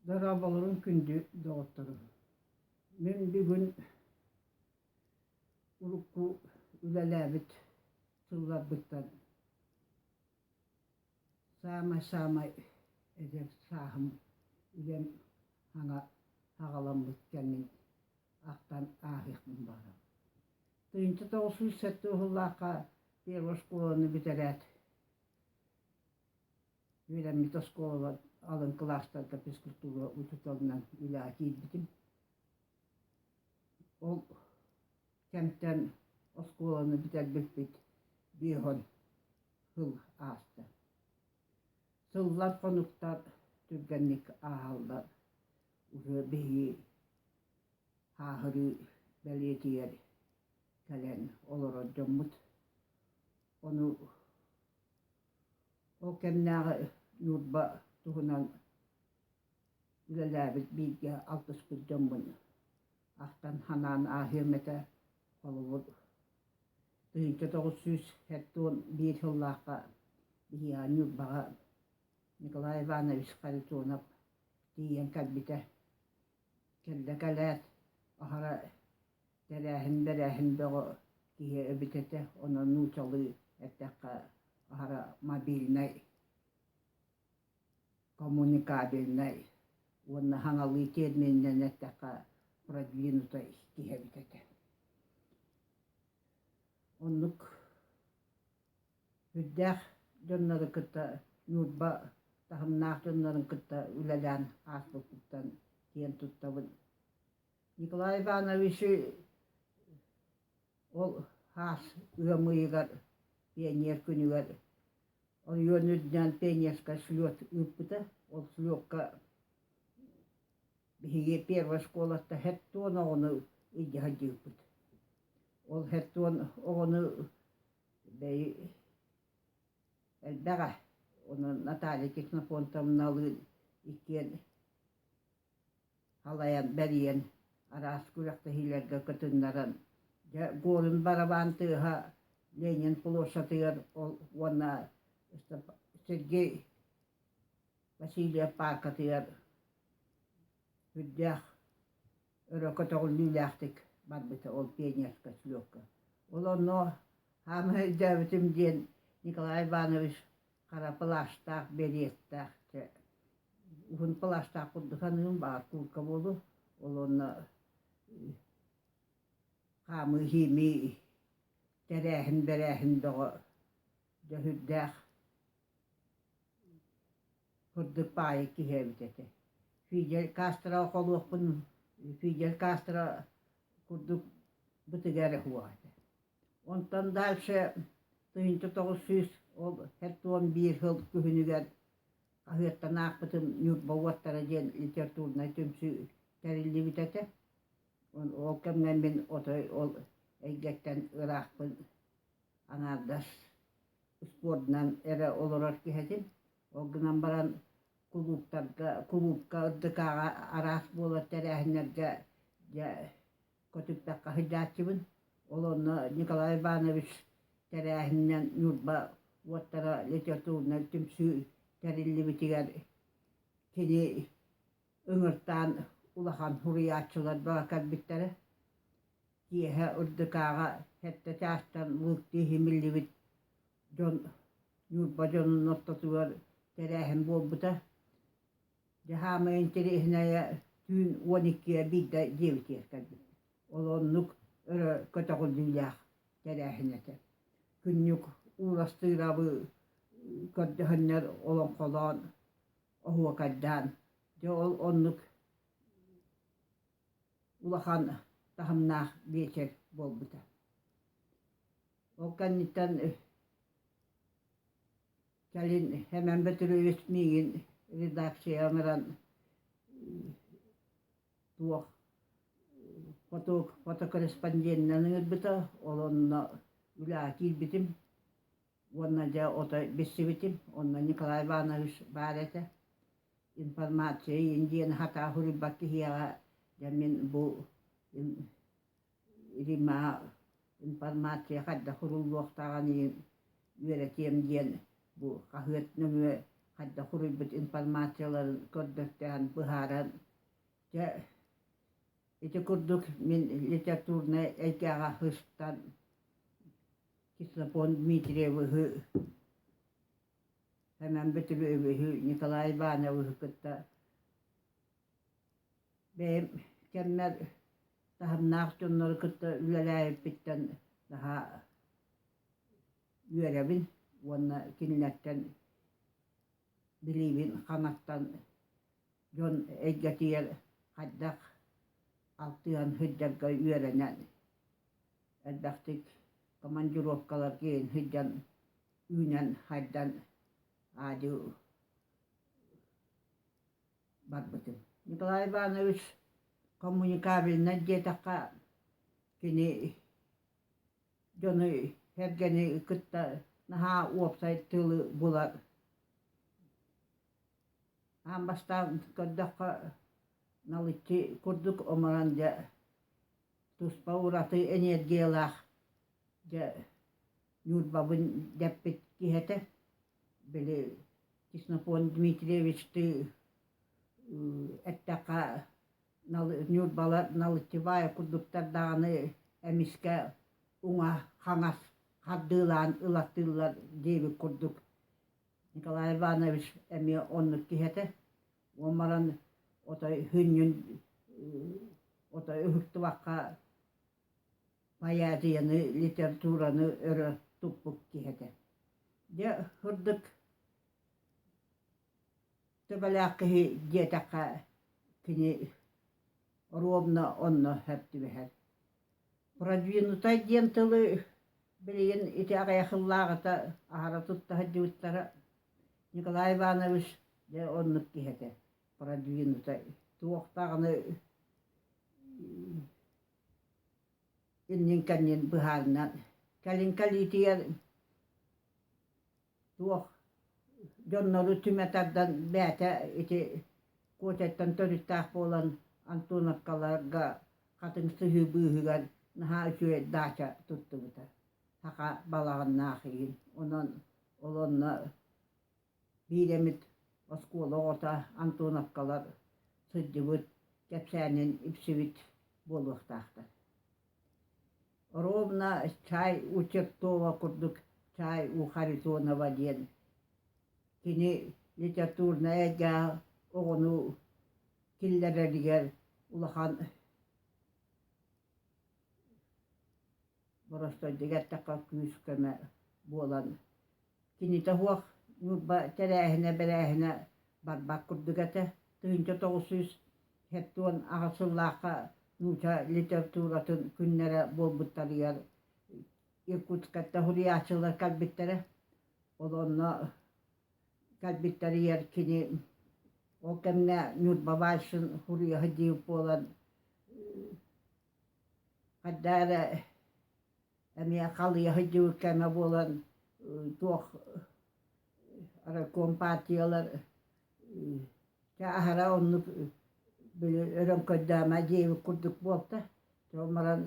Дорооболорун күндү доҕотторум. Мин бүгүн урукку үлэлээбит сылларбыттан Саамай-саамай эдэр сааһым үлэм саҥа саҕаламмыт кэмин ахтан ааһыахпын баҕарабын. Тыһыынча тоҕус сүүс сэттэ уһуллаахха первая оскуоланы бүтэрээт үөрэммит оскуола алын кылаастарга физкультура учууталынан үлэҕэ киирбитим. Ол кэмтэн оскуоланы бүтэрбиппит биэһон сыл ааста. Сыллар хонуктар түргэнник ааһаллар. Уже биһиги һааһырыы бэлиэтигэр кэлэн олорор дьоммут ону ол кэмнээҕи Ньурба туһунан Үлэлээбит бииргэ алтыспыт дьоммун ахтан санаан ааһыам этэ холобур тыһыынча тоҕус сүүс хектон биир сыллаахха Биһиэхэ Ньурбаҕа Николай Иванович Харитонов тиийэн кэлбитэ. Кэллэ кэлээт аһара тэрээһин бэрээһин бөҕө киһи эбит этэ онон нуучалыы эттэххэ аһара мобильнай коммуникабельнай уонна хаҥалыы термининэн эттэххэ продвинуто киһэбит этэ. Оннук үрдээх дьоннору кытта Ньурба таһымнаах дьоннорун кытта үлэлээн ааспыппыттан киэн туттабын. Николай Ивановичи Ол хаас ыам ыйыгар пионер күнүгэр ойуун үрдээн пионерскай слет ыыппыта. Ол слетка биһиги первый оскуолата хэт уон оҕону илдьэ сылдьыыппыт. Ол хэт уон оҕону бэйи элбэҕэ. Онон Наталья Ксенофонтовналыын иккиэн Халайан бэрийэн араас күрэхтэһиилэргэ кытыннаран, дьэ Горин барабаан тыаһа Ленин площадыгар ол уонна Сергей Васильев пааркатыгар сүрдээх өрө көтөҕүллүүлээхтик барбыта ол пионерскай слётка. Ол онно хаамыһа өйдөөбүтүм диэн Николай Иванович хара пылаастаах, береттээх, чэ, уһун пылаастаах курдук саныым, баар курка буолу, ол онно хаамыы-иһиимии тэрээһин, бэрээһин бөҕө дьөһүрдээх курдук паайы киһи эбит этэ. Фидель Кастроҕа холуохпун, Фидель Кастро курдук бытыга эрэ суох этэ Онтон дальше тыһыынча тоҕус сүүс ол хэт уон биир сыл күһүнүгэр хаһыаттан аахпытым Ньурба уоттара диэн литературнай түмсүү тэриллибит этэ. Ол кэмҥэ мин отой ол эйгэттэн ыраахпын аҥаардас спордунан эрэ олорор киһитин. Ол гынан баран кулууптарга кулуупка ырдыкааҕа араас буолар тэрээһиннэргэ дьэ көтүппэккэ сылдьааччыбын. Ол онно Николай Иванович тэрээһининэн Ньурба уоттара литературнай түмсүү тэриллибитигэр кини ыҥыртаан улахан суруйааччыларга кэлбиттэрэ. Киэһэ Ырдыкааҕа сэттэ чаастан мылтыы иһимиллибит дьон Ньурба дьонун ортотугар тэрээһин буолбута. Дьэ хаамыы интэриэһинэйэ түүн уон иккигэ биирдэ диэбитигэр кэлбит. Ол оннук өрө көтөҕүл илиилээх тэрээһин этэ. Күннүк ууластыырабы көрдөһөннөр олоҥхолоон, оһуокайдаан, дьэ ол оннук улахан таһымнаах биэчэр буолбута. Ол кэнниттэн Кэлин Эмэн Бөтүрүөс миигин редакцияҕа ыҥыран туох фото фотокорреспонденынан ыҥырбыта, ол онно үлэҕэ киирбитим уонна дьэ ото билсибитим. Онно Николай Иванович баар этэ. Информация иин диэн хатаа суруйбат киһиэхэ дьэ мин бу Римаҕа информация хайдах суруллуохтааҕын үөрэтиэм диэн бу хаһыат нөҥүө хайдах суруйбут информацияларын көрдөртөөн быһааран дьэ ити курдук мин литературнай эйгэҕэ сыстан Ксенофонт Дмитриевиһы Сэмэн Бөтүрүөбүһү Николай Ивановиһы кытта бэйэм кэммэр таһымнаах дьоннору кытта үлэлээбиппиттэн наһаа үөрэбин уонна кинилэртэн билиибин ханаттан дьон эйгэтигэр хайдах алтыһан сылдьарга үөрэнэн элбэхтик командировкалар киирэн сылдьан үүнэн хайдан аадьы барбытым. Николай Иванович коммуникабельнай диэтэххэ кини дьону кэргэни кытта наһаа уопсай тылы була аан бастаан көрдөххө налыччы курдук оморон дьэ туспа ураты энергиялаах дьэ Ньурбабын дэппит киһи этэ били Кеснокон Дмитриевич ты эттэххэ Ньурбала Налыччыбаайа курдуктар даҕаны эмискэ уҥа хаҥас хардыылаан ылаттыыллар диэбит курдук Николай Иванович эмиэ оннук киһи этэ уон баран отой һүнньүн отой уһуктубакка поэзияны, литератураны өрө туппут киһи этэ. Дьэ, сырдык төбөлөөх киһи диэтэххэ, кини ровно онно сап түбэһэр. Продвинутай диэн тылы билигин ити аҕыйах сыллааҕыта аһара тутта сылдьыбыттара Николай Иванович дьэ оннук киһи этэ. Продвинутай туох даҕаны иннин-кэннин быһаарынан кэлин кэлиитигэр туох дьоннору түмэ тардан бэйэтэ ити Куотяттан төрүттээх буолан Антоновкаларга хатыҥ сыһыы быыһыгар наһаа үчүгэй даача туттубута саха балаҕаннаах иин онон ол онно Биирэмит оскуола оҕото Антоновкалар сылдьыбыт кэпсээнин ипсибит буолуохтаахтар. Ровно чай у Чертова курдук чай у Харитонова диэн кини литературнай эйгэ оҕону киллэрэригэр улахан боростуойдугар эртэххэ күүс-көмө буолан кинитэ суох ньурба тэрээһинэ бэрээһинэ барбат курдук этэ тыһыынча тоҕус сүүс сэттэ уон аҕыс сыллаахха нууча литературатын күннэрэ буолбуттарыгар иркутскка суруйааччылар кэлбиттэрэ ол онно кэлбиттэригэр кини ол кэмҥэ Ньурба вальсын суруйаһа дии буолан хайда эрэ эмиэ халыйаһа дии кэмэ буолан туох райкомпартиялар чэ аһара оннук били өрөҥкөйдөөмө диэбит курдук буолта ол баран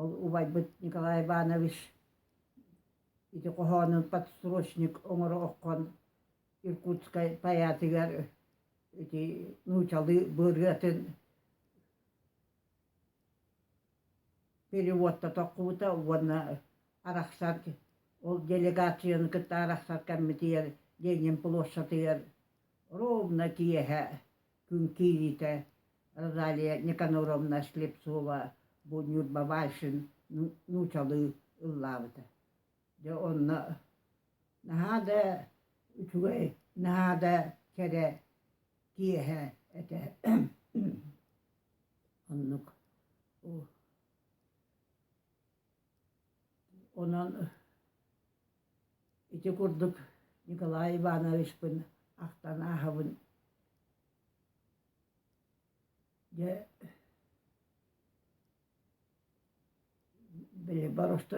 ол убайбыт Николай Иванович ити хоһоонун подстрочник оҥоро оххон Иркутскай тайаатыгар ити нуучалыы быарыатын переводто тоххубута уонна арахсар ол делегацияны кытта арахсар кэммитигэр Ленин площадыгар ровно киэһэ Күн киириитэ Розалия Никаноровна Слепцова бу Ньурба Байшин нуучалыы ыллаабыта. Дьэ онно наһаа да үчүгэй, наһаа да кэрэ киэһэ этэ. Оннук. Онон Ити курдук Николай Ивановичпын ахтан ааһабын дьэ били боросту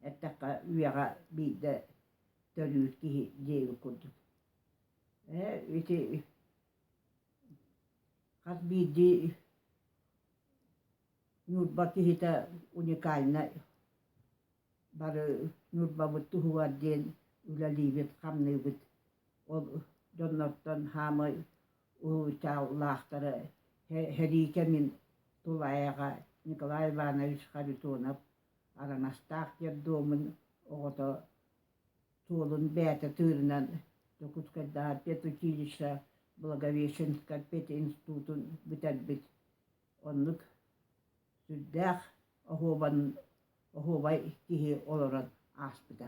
эттэххэ үйэҕэ биирдэ төлүүр киһи диэбит курдук ээ ити хас биирдии Ньурба киһитэ уникальнай. Бары Ньурбабыт туһугар диэн үлэлиибит, хамныыбыт. Ол дьоннортон хаамай уһулучааллаахтара сэрии кэмин тулаайаҕа Николай Иванович Харитонов Араҥастаах диэр дуомун оҕото суолун бэйэтэ тыырынан Дьокуускайдааҕы педучилище Благовещенскай пединститутун бүтэрбит. Оннук сүрдээх оһуобан оһуобай киһи олорон ааспыта